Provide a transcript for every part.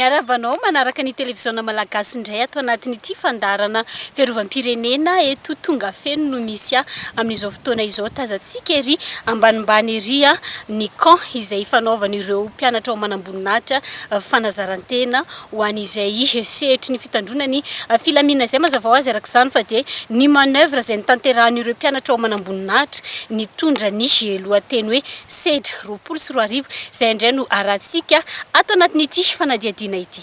Miarahaba anao manaraka ny televiziona malagasy indray ato anatin'ity fandaharana Fiarovam-pirenena eto tonga feno no misy a! amin'izao fotoana izao tazantsika ery ambanimbany ery a! ny camp izay ifanaovan'ireo mpianatra ao manamboninahitra fanazarantena ho an'izay sehetry ny fitandroana ny filaminana izay mazava ho azy araka izany fa dia ny manoeuvre izay notanterahan'ireo mpianatra ao manamboninahitra nitondra ny lohateny hoe sedra roapolo sy roa arivo izay indray no arahantsika ato anatin'ity fanadihadiana ity.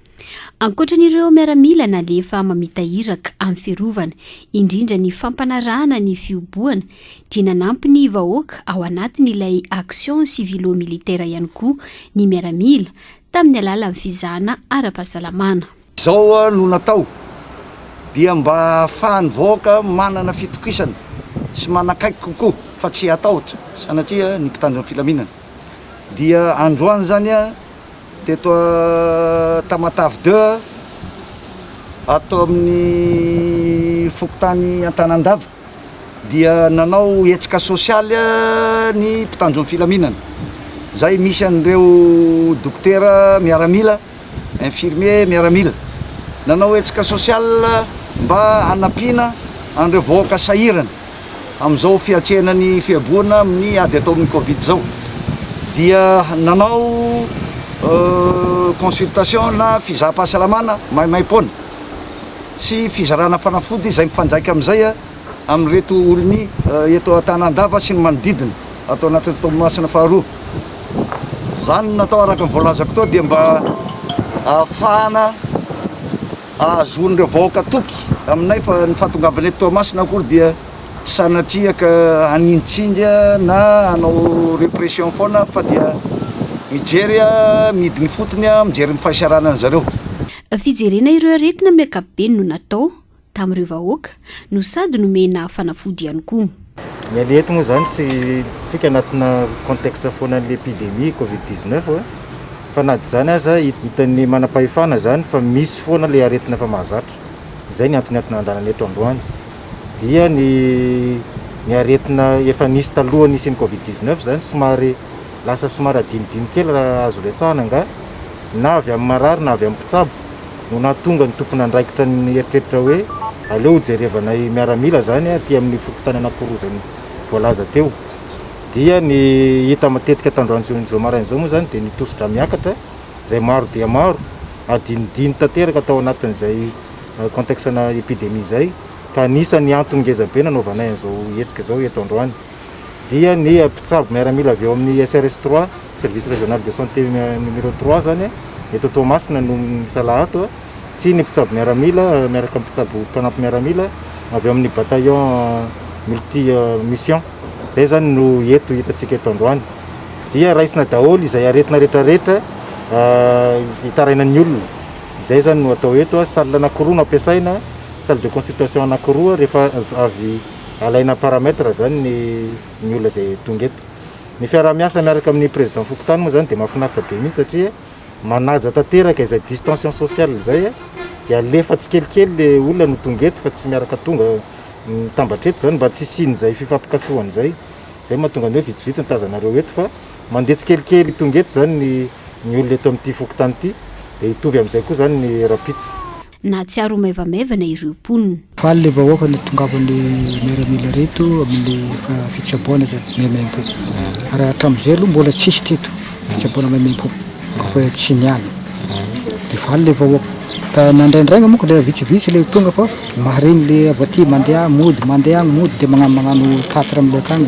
Ankoatran'ireo miaramila nalefa mamita iraka amin'ny fiarovana indrindra ny fampanarahana ny fihobohana dia nanampy ny vahoaka ao anatin'ilay action civilo-militaire ihany koa ny miaramila tamin'ny alalan'ny fizahana ara-pahasalamana. Izao no natao dia mba hahafahan'ny vahoaka manana fitokisana sy manakaiky kokoa fa tsy hatahotra sanatria ny mpitandro ny filaminana dia androany izany Teto Tamatave deux a, ato amin'ny fokontany Antanandava dia nanao hetsika sosialy ny mpitandron'ny filaminana izay misy an'ireo dokotera miaramila, infirmiers miaramila. Nanao hetsika sosialy mba hanampiana an'ireo vahoaka sahirana. amin'izao fiatrehana ny fihaboana amin'ny ady atao amin'ny covid izao dia nanao consultation na fizaham-pahasalamana maimaim-poana sy fizarana fanafody izay mifandraika amin'izay amin'ireto olony eto Antanandava sy ny manodidina ato anatin'ny Toamasina faharoa. Izany natao araka ny voalazako tao dia mba ahafahana Ahazoan'ireo vahoaka toky aminay fa ny fahatongavanay eto Toamasina akory dia tsy sanatria ka hanintsinga na hanao repression foana fa dia mijery mihidy ny fotony, mijery ny fahasahiranan'izareo. Fijerena ireo aretina amin'ny ankapobeny no natao tamin'ireo vahoaka no sady nomena fanafody ihany koa. Ny aleha eto moa izany tsy tsika anatina contexte foana an'ilay epidemie covid 19 eh, fa na dia izany aza hitan'ny manam-pahefana izany fa misy foana ilay aretina efa mahazatra, izay ny antony entina handalana eto androany dia ny ny aretina efa nisy talohan'ny hisian'ny covid 19 izany somary lasa somary adinodino kely raha azo resahana angaha na avy amin'ny marary na avy amin'ny mpitsabo. no nahatonga ny tompon'andraikitra nieritreritra hoe aleo hojerevanay miaramila izany aty amin'ny fokontany Anakorozany voalaza teo. Dia ny hita matetika tandroan'izao maraina izao moa izany dia ny tosi-drà miakatra izay maro dia maro, adinodino tanteraka tao anatin'izay contexte-na epidemie izay, ka anisan'ny antony ngezabe nanaovanay an'izao hetsika izao eto androany. dia ny mpitsabo miaramila avy ao amin'ny SRS trois, Service Régional de Santé numéro trois, izany eto Toamasina no misalahy ato sy ny mpitsabo miaramila miaraka amin'ny mpitsabo mpanampy miaramila avy ao amin'ny bataillon multi mission. Izay izany no eto hitantsika eto androany. Dia raisina daholo izay aretina rehetra rehetra hitarainan'ny olona. Izay izany no atao eto, salle anankiroa no ampiasaina, salle de consultation anankiroa rehefa avy Alaina en paramètre izany ny ny olona izay tonga eto. Ny fiaraha-miasa miaraka amin'ny président fokontany moa izany dia mahafinaritra be mihitsy satria manaja tanteraka izay distention sociale izay dia alefa tsikelikely le olona no tonga eto fa tsy miaraka tonga mitambatra eto izany mba tsy hisian'izay fifampikasohana izay. Izay no mahatonga ny hoe vitsivitsy ny tazanareo eto fa mandeha tsikelikely tonga eto izany ny ny olona eto amin'ity fokontany ity dia hitovy amin'izay koa izany ny rahampitso. Nahatsiaro ho maivamaivana ireo mponina. Faly le vahoaka nitongavan'ny miaramila reto amin'ny fitsaboana zany maimaimpo ary hatramin'izay aloha mbola tsisy teto fitsaboana maimaimpo koa fa tsy niany de faly le vahoaka ka na ndraindraigna moa le vitsivitsy le tonga fa mahareny le avy aty mandeha mody mandeha agny mody de magnano magnano tatra amle akagny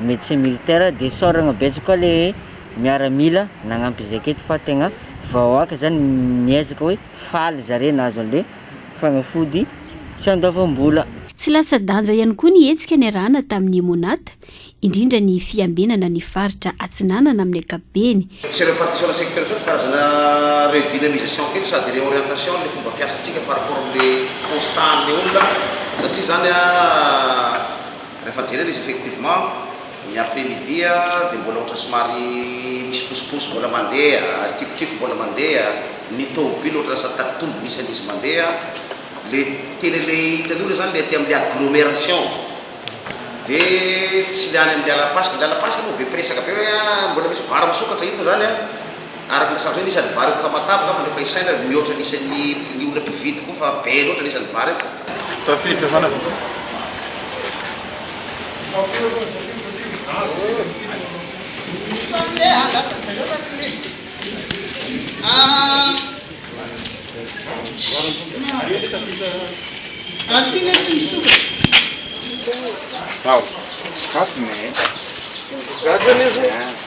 Médecin militaire de soragna betsaka koa le miaramila nagnampy zay aketo fa tegna vahoaka zany miezaka hoe faly zare nahazo anle fagnafody tsy andoavam-bola. Tsy latsa-danja ihany koa ny hetsika niarahana tamin'ny MONAT, indrindra ny fiambenana ny faritra Atsinanana amin'ny ankapobeny. Sy ireo partitions-na secteurs zao dia karazana redynamisation kely sady réorientation an'ilay fomba fiasantsika par rapport amin'ilay constat an'ilay olona satria izany an, Rehefa jerena izy effectivement ny après midi dia mbola ohatra somary misy posiposy mbola mandeha ary kikokiko mbola mandeha, ny tomobile ohatra lasa tatitombo ny isan'izy mandeha, le tena ilay hitan'io le zany le aty amin'ilay agglomeration dia tsy le any amin'ny lalam-pasika, ny lalam-pasika moa be mpiresaka be hoe ah mbola misy vary misokatra io moa zany an! Araka ny nasarotra eo ny isan'ny vary eto Tamatave angamba no efa isaina ary mihoatra ny isan'ny ny olona mpividy koa fa be loatra ny isan'ny vary eto. Tafiditra manana tompoko. Ao. Sokafy ny. Gaga anie zao.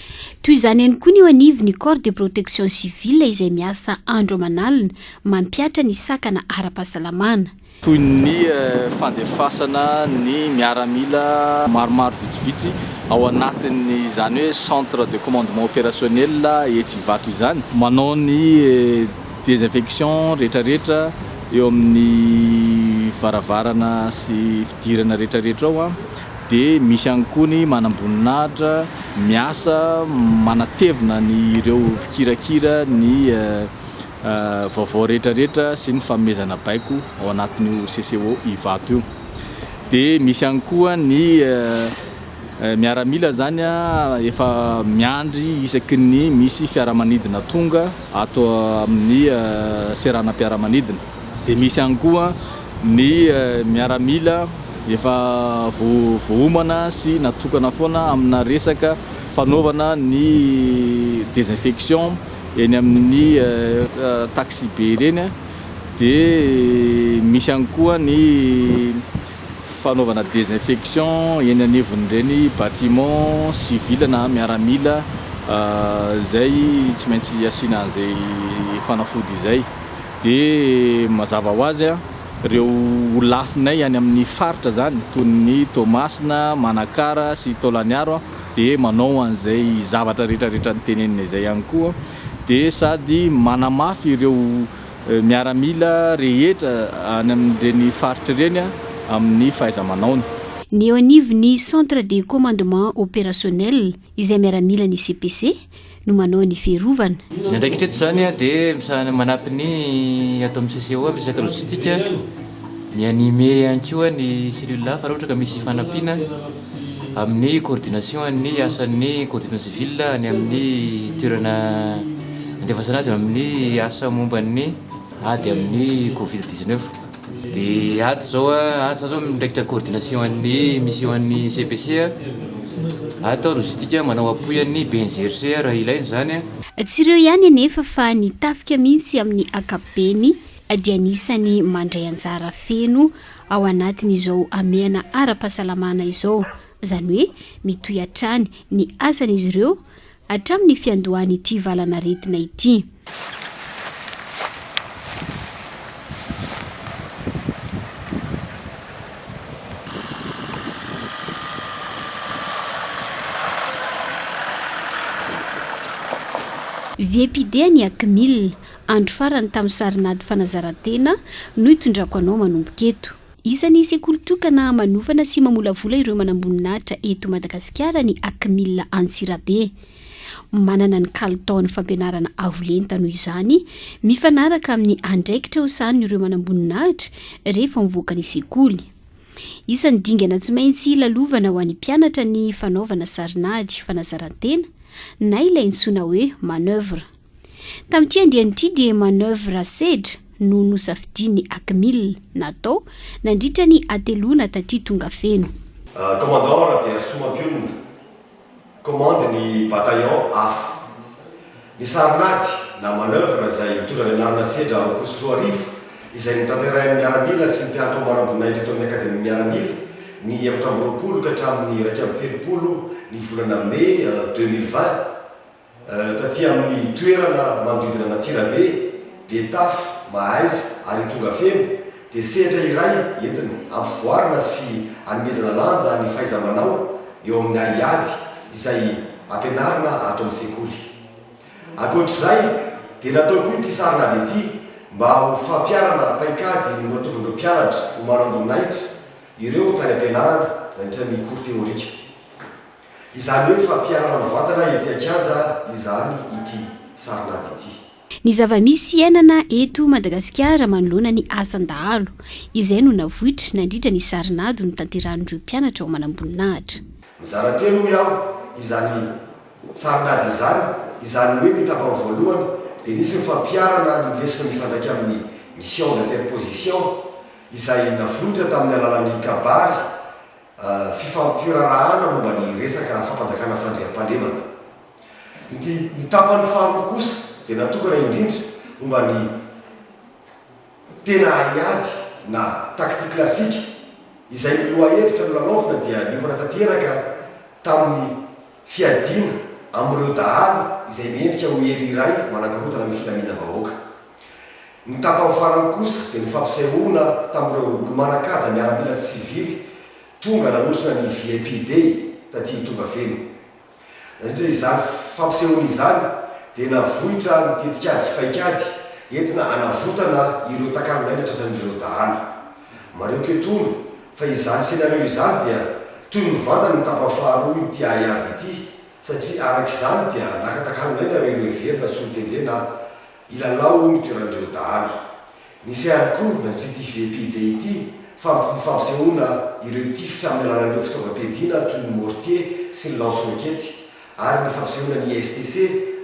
Toy izany ihany koa ny eo anivon'ny Corps de Protection Civile izay miasa andro aman'alina mampihatra ny sakana ara-pahasalamana. Toy ny fandefasana ny miaramila maromaro vitsivitsy ao anatin'izany hoe Centre de Commandement Opérationnel etsy Ivato izany. Manao ny désinfection rehetrarehetra eo amin'ny varavarana sy fidirana rehetrarehetra ao. Dia misy ihany koa ny manamboninahitra miasa manatevina ny ireo mpikirakira ny vaovao rehetrarehetra sy ny fanomezana baiko ao anatin'io CCO Ivato io. Dia misy ihany koa ny miaramila izany efa miandry isaky ny misy fiaramanidina tonga ato amin'ny seranam-piaramanidina. Dia misy ihany koa Ny miaramila efa voaomana sy natokana foana amina resaka fanaovana ny desinfection eny amin'ny taxibe ireny dia misy ihany koa ny fanaovana desinfection eny anivon'ireny bâtiment civil na miaramila izay tsy maintsy asiana an'izay fanafody izay. Dia mazava ho azy, ireo holafinay any amin'ny faritra izany, toy ny Toamasina, Manakara sy Taolagnaro, dia manao an'izay zavatra rehetrarehetra nitenenina izay ihany koa. Dia sady manamafy ireo miaramila rehetra any amin'ireny faritra ireny amin'ny fahaiza-manaony. Ny eo anivon'ny Centre de Commandement Opérationnel, izay miaramilan'ny CPC, no manao ny fiarovana. Ny andraikitra eto izany dia manampy ny ato amin'ny CCO amin'ny resaka logistique, mi-animer ihany koa ny cellule hafa raha ohatra ka misy fanampiana amin'ny coordination ny asan'ny coordination civil any amin'ny toerana andefasana azy amin'ny asa momba ny ady amin'ny covid dix-neuf. Dia ato izao asa izao miraikitra coordination an'ny mission an'ny CPC. Ato aho no zidika manao appui an'ny BNGRC raha ilaina izany. Tsy ireo ihany anefa fa ny tafika mihitsy amin'ny ankapobeny dia anisan'ny mandray anjara feno ao anatin'izao hamehana ara-pahasalamana izao. Izany hoe mitohy hatrany ny asan'izy ireo hatramin'ny fiandohan'ity valanaretina ity. Viepidea ny Akmil, andro farany tamin'ny sarin'ady fanazarantena no itondrako anao manomboka eto. Isan'ny sekoly tokana manofana sy mamolavola ireo manamboninahitra eto Madagasikara ny Acmil Antsirabe. Manana ny kalitaon'ny fampianarana avo lenta noho izany, mifanaraka amin'ny andraikitra ho sahanin'ireo manamboninahitra rehefa mivoaka ny sekoly. Isan'ny dingana tsy maintsy lalovana ho an'ny mpianatra ny fanaovana sarin'ady fanazaran-tena na ilay intsoina hoe manoeuvre. Tamin'ity andiany ity dia manoeuvre sedra no nosafidian'ny ACMIL natao nandritra ny hateloana taty Tongafeno. Commandant Rabearisoa Ampionona, Commande ny Bataillon afo. Ny sarin'ady na manoeuvre izay mitondra ny anarana sedra roapolo sy roa arivo izay notanterahin'ny miaramila sy ny mpianatra ambara-boninahitra eto amin'ny Akademia Miaramila ny efatra amby roapolo ka hatramin'ny iraika amby telopolo ny volana Mey deux mille vingt Taty amin'ny toerana manodidina an'Antsirabe, Betafo, Mahaiza ary Itongafeno dia sehatra iray entina ampivoarana sy anomezana lanja ny fahaiza-manao eo amin'ny haiady izay ampianarina ato amin'ny sekoly. Ankoatr'izay dia natao koa ity sarin'ady ity mba ho fampiharana paikady noratovin'ireo mpianatra ho maro amboninahitra ireo tany am-pianarana nandritra ny cours théorique. Izany hoe fampiharana mivantana ety an-kianja izany ity sarin'ady ity. Ny zava-misy iainana eto Madagasikara manoloana ny asan-dahalo, izay no navoitra nandritra ny sarin'ady notanterahin'ireo mpianatra ao Manamboninahitra. Mizara telo hoy aho izany sarin'ady izany, izany hoe ny tapany voalohany dia nisy ny fampiharana ny lesona mifandraika amin'ny mission d'interposition izay navoitra tamin'ny alalan'ny kabary, fifampirarahana momba ny resaka fampanjakana fandriampahalemana. Ity ny tapany faharoa kosa dia natokana indrindra momba ny tena haiady na tactique classique izay ny lohahevitra nolalaovina dia niomana tanteraka tamin'ny fiadiana amin'ireo dahalo izay mendrika ho hery iray manakorontana ny filaminam-bahoaka. Ny tapany farany kosa dia nifampisehoana tamin'ireo olo-manan-kaja miaramila sy sivily tonga nanotrona ny VIP Day taty Itongavelo. Nandritra izany fampisehoana izany dia navoitra ny tetikady sy paikady entina hanavotana ireo takalonaina tratran'ireo dahalo. Marioko etoana fa izany scénario izany dia toy mivantana ny tapany faharoa ity haiady ity satria araka izany dia naka takalonaina ireo noheverina solotendrena Ilalao hono toerandreo dahalo. Misy ihany koa na tsy ity GPD ity fa mp ny fampisehoana ireo tifitra amin'ny alalan'ireo fitaovam-piadiana toy ny mortier sy ny lance roquette ary ny fampisehoana ny ISTC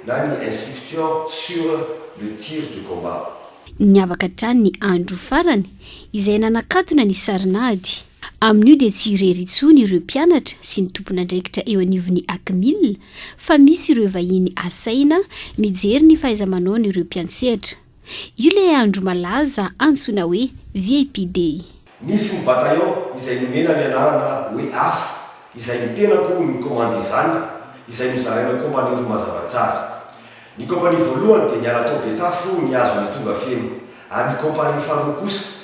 na ny instruction sur le tir de combat. Niavaka hatrany ny andro farany izay nanakatona ny sarin'ady. Amin'io dia tsy irery intsony ireo mpianatra sy ny tompon'andraikitra eo anivon'ny Acmil fa misy ireo vahiny asaina mijery ny fahaiza-manaon'ireo mpiantsehatra. Io ilay andro malaza antsoina hoe VIP Day. Nisy ny bataillon izay nomena ny anarana hoe Afo, izay ny tenako no nikomandy izany, izay nozaraina kompania roa mazava tsara. Ny kompania voalohany dia niala tao Betafo nihazo ilay tonga feno, ary ny kompania faharoa kosa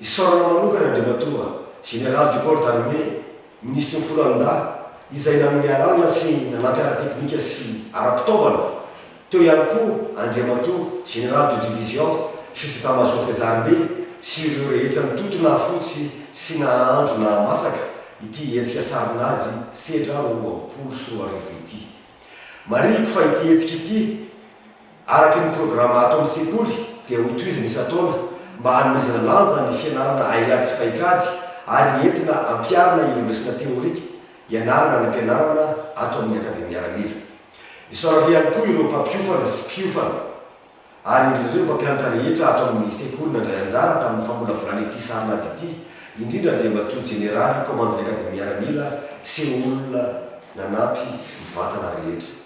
Isaorana manokana Andriamatoa Général du Corps d'Armée, Minisitry ny Foloalindahy, izay nanome alalana sy nanampy ara-teknika sy ara-pitaovana, teo ihany koa Andriamatoa Général de Division, Chef d'Etat-Major des Armées, sy ireo rehetra nitoto nahafotsy sy nahaandro nahamasaka ity hetsika Sarin'ady sedra roa amby folo sy roa arivo ity. Marihiko fa ity hetsika ity, Araka ny programa ato amin'ny sekoly dia hotohizana isan-taona mba hanomezana lanja ny fianarana haiady sy paikady ary entina ampiharina ireo lesona teorika ianarana any am-pianarana ato amin'ny Akademia Miaramila. Isaorana ihany koa ireo mpampiofana sy mpiofana ary indrindra ireo mpampianatra rehetra ato amin'ny sekoly nandray anjara tamin'ny famolavolana ity sarin'ady ity, indrindra Andriamatoa Jeneraly Kaomandin'ny Akademia Miaramila sy olona nanampy mivantana rehetra.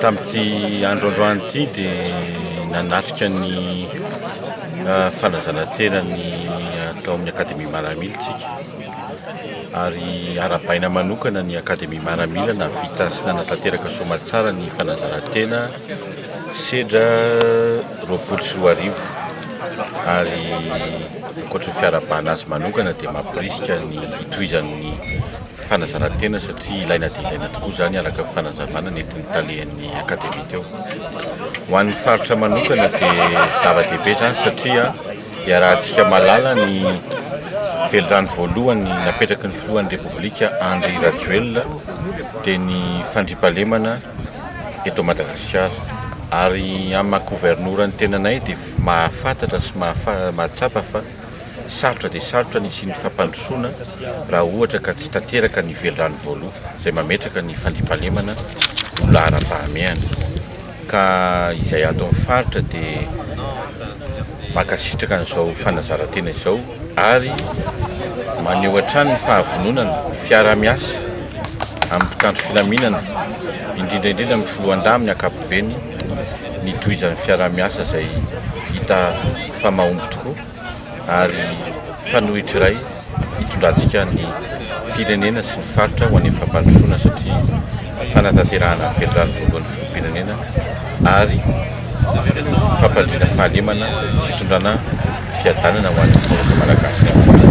Tamin'ity andro androany ity dia nanatrika ny fanazana-tena ny atao amin'ny Akademia Maramila tsika. Ary arabaina manokana ny Akademia Maramila navita sy nanatanteraka soamatsara ny fanazana-tena sedra roapolo sy roa arivo. Ary ankoatry ny fiarahabana azy manokana dia mampirisika ny hitohizan'ny Fanazaran-tena satria ilaina dia ilaina tokoa izany araka ny fanazavana nentin'ny talehan'ny Akademia teo. Ho an'ny faritra manokana dia zava-dehibe izany satria iarahantsika mahalala ny velirano voalohany napetraky ny Filohan'ny Repoblika Andry Rajoelina dia ny fandriampahalemana eto Madagasikara ary amin'ny maha-Governoran'ny tenanay dia mahafatatra sy mahatsapa fa Sarotra dia sarotra ny hisian'ny fampandrosoana raha ohatra ka tsy tanteraka ny velirano voaloha izay mametraka ny fandriampahalemana ho laharam-pahamehana. Ka izay ato amin'ny faritra dia mankasitraka an'izao fanazaran-tena izao ary maneho hatrany ny fahavononany fiaraha-miasa amin'ny mpitandro filaminana indrindra indrindra amin'ny Filohandahy amin'ny ankapobeny, ny tohizan'ny fiaraha-miasa izay hita fa mahomby tokoa ary fanohitra iray hitondrantsika ny firenena sy ny faritra ho any fampandrosoana satria fanatanterahana ny velirano voalohan'ny filoham-pirenena ary fampandriana fahalemana fitondrana fiadanana ho an'ny vahoaka malagasy rehetra.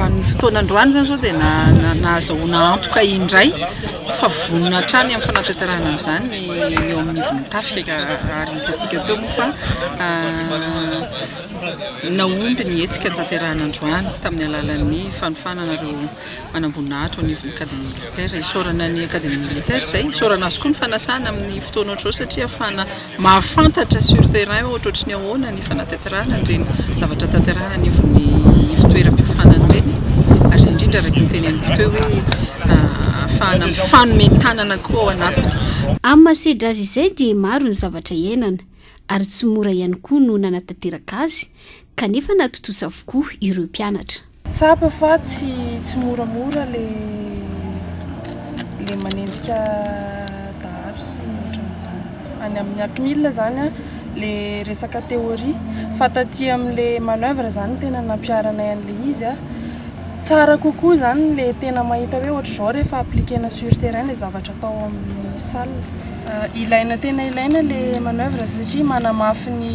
Amin'io fotoana androany izany izao dia nahazahoana antoka indray fa vonona hatrany amin'ny fanatanterahana an'izany ny eo amin'ny ivon'ny tafika ary hitantsika teo moa fa nahomby ny hetsika notanterahina androany tamin'ny alalan'ny fanofanana ireo manamboninahitra ao anivon'ny Académie militaire. Isaorana ny Académie militaire izay, isaorana azy koa ny fanasana amin'ny fotoana ohatr'izao satria ahafahana mahafantatra sur terrain ohatra ohatry ny ahoana ny fanatanterahana an'ireny zavatra tanterahana anivon'ny ivontoeram-piofanana ireny ary indrindra araka ny teneniko teo hoe ahafahana mifanome tanana koa ao anatiny. Amin'ny maha sedra azy izay dia maro ny zavatra iainana ary tsy mora ihany koa no nanatanteraka azy Kanefa natontosa avokoa ireo mpianatra. Tsapa fa tsy tsy moramora le le manenjika dahalo sy ny otran'izany. Any amin'ny Acmil zany an, le resaka théorie fa taty amin'le manoeuvre zany no tena nampiharanay an'le izy an. Tsara kokoa zany le tena mahita hoe ohatr'izao rehefa appliquer-na sur terrain le zavatra atao amin'ny salle. Ilaina tena ilaina le manoeuvre satria manamafy ny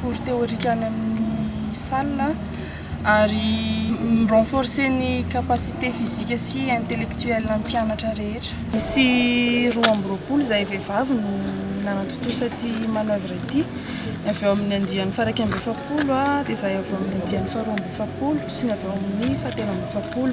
cours théorique any amin'ny salle ary mi renforcer ny capacité physique sy intellectuelle an'ny mpianatra rehetra. Nisy roa amby roapolo zahay vehivavy no nanatontosa ity manoeuvre ity, ny avy ao amin'ny andiany faha iraika amby efapolo dia zahay avy ao amin'ny andiany faha roa amby efapolo sy ny avy ao amin'ny faha telo amby efapolo.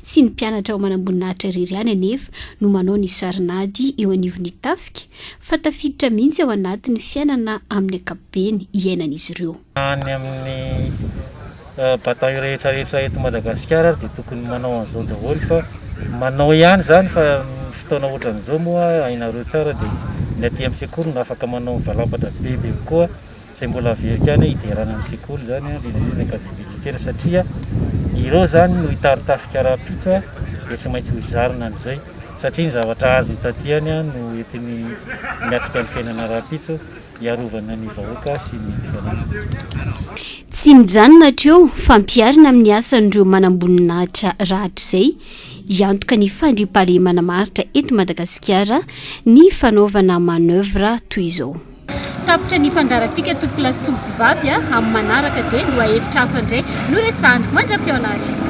Tsy ny mpianatra ao Manamboninahitra irery ihany anefa no manao ny sarin'ady eo anivon'ny tafika fa tafiditra mihitsy ao anatin'ny fiainana amin'ny ankapobeny iainan'izy ireo. Any amin'ny bataille rehetrarehetra eto Madagasikara ary dia tokony manao an'izao daholo fa manao ihany izany fa ny fotoana ohatran'izao moa hainareo tsara dia ny aty amin'ny sekoly no afaka manao ny valampatra bebe kokoa izay mbola very ihany hoe hiderana ny sekoly izany indrindra indrindra ny ankavia militaire satria ireo izany no hitaritafika rahampitso dia tsy maintsy hozarina amin'izay satria ny zavatra azony taty ihany no entiny miatrika ny fiainana rahampitso hiarovana ny vahoaka sy ny fiainana. Tsy mijanona hatreo fa ampiharina amin'ny asan'ireo manamboninahitra rahatrizay hiantoka ny fandriampahalemana maharitra eto Madagasikara ny fanaovana manoeuvre toy izao. Tapitra ny ifandaharantsika tompolahy sy tompokovavy a! Amin'ny manaraka dia lohahevitra hafa indray no resahana. Mandra-pihaona ary!